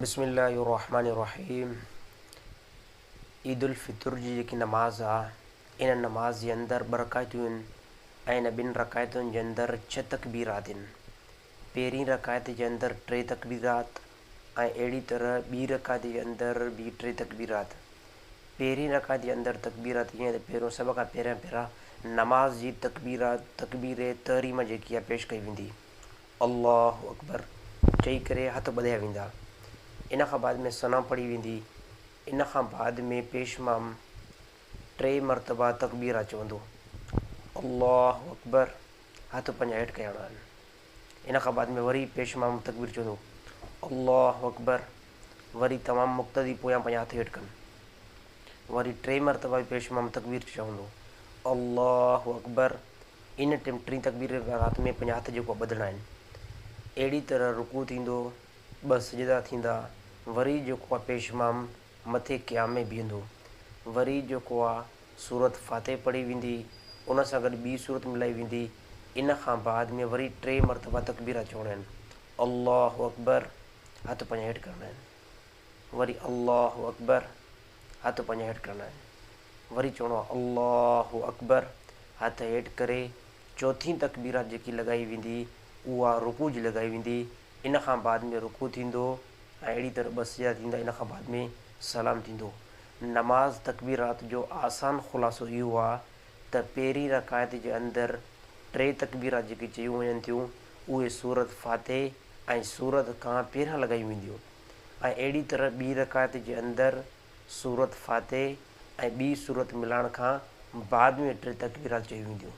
بسم الله الرحمٰن الرحيم عيد الفطر جي جيڪي نماز آ ان نماز جي اندر ٻه رڪعتون هن ۽ ان ٻن رڪعتن جي اندر ڇهه تڪبيرات هن پهرين رڪعت جي اندر ٽي تڪبيرات ۽ اهڙي طرح ٻي رڪعت جي اندر به ٽي تڪبيرات پهرين رڪعت جي اندر تڪبيرات جيئن ته پهريون سڀ کان پهريان پهران نماز جي تڪبيرات تڪبير تحريمه جيڪي آ پيش ڪئي ويندي الله اڪبر چئي ڪري هٿ ٻڌايا ويندا. ان کان بعد ۾ ثنا پڙهي ويندي. ان کان بعد ۾ پيش مام ٽي مرتبا تڪبيرا چوندو. الله اڪبر هٿ پنهنجا هيٺ ڪيا ويندا آهن. ان کان بعد ۾ وري پيش مام تڪبير چوندو. الله اڪبر وري تمام مقتدي پويان پنهنجا هٿ هيٺ ڪن. وري ٽي مرتبه به پيش امام تڪبير چئي چوندو، الله اڪبر، ان ٽيم ٽين تڪبير جي وقت ۾ پنهنجا هٿ جهڪوا ٻڌڻا آهن. اهڙي طرح رڪوع ٿيندو، ٻه سجدا ٿيندا، وري جهڪوا پيش امام مٿي قيام ۾ بيهندو، وري جهڪوا سورت فاتح پڙهي ويندي، ان سان گڏ ٻي سورت ملائي ويندي، ان کان بعد ۾ وري ٽي مرتبه تڪبيرا چوڻيون آهن، الله اڪبر، هٿ پنج هيٺ ڪرڻا آهن وري الله اڪبر هٿ پنج هيٺ ڪرڻا آهن وري چوڻو آهي الله اڪبر هٿ هيٺ ڪري چوٿين تڪبيرات جيڪي لڳائي ويندي اها رڪوع جي لڳائي ويندي ان کان بعد ۾ رڪوع ٿيندو ۽ اهڙي طرح ٻه سجا ٿيندا ان کان بعد ۾ سلام ٿيندو نماز تڪبيرات جو آسان خلاصو اهو آهي ته پهرين رڪايت جي اندر ٽي تڪبيرات جيڪي چيون وڃن ٿيون اهي سورت فاتح ۽ سورت کان پيرا لڳايون وينديون ۽ اهڙي طرح ٻي رڪعت جي اندر سورت فاتح ۽ ٻي سورت ملائڻ کان بعد ۾ ٽي تڪبيرات چيون وينديون.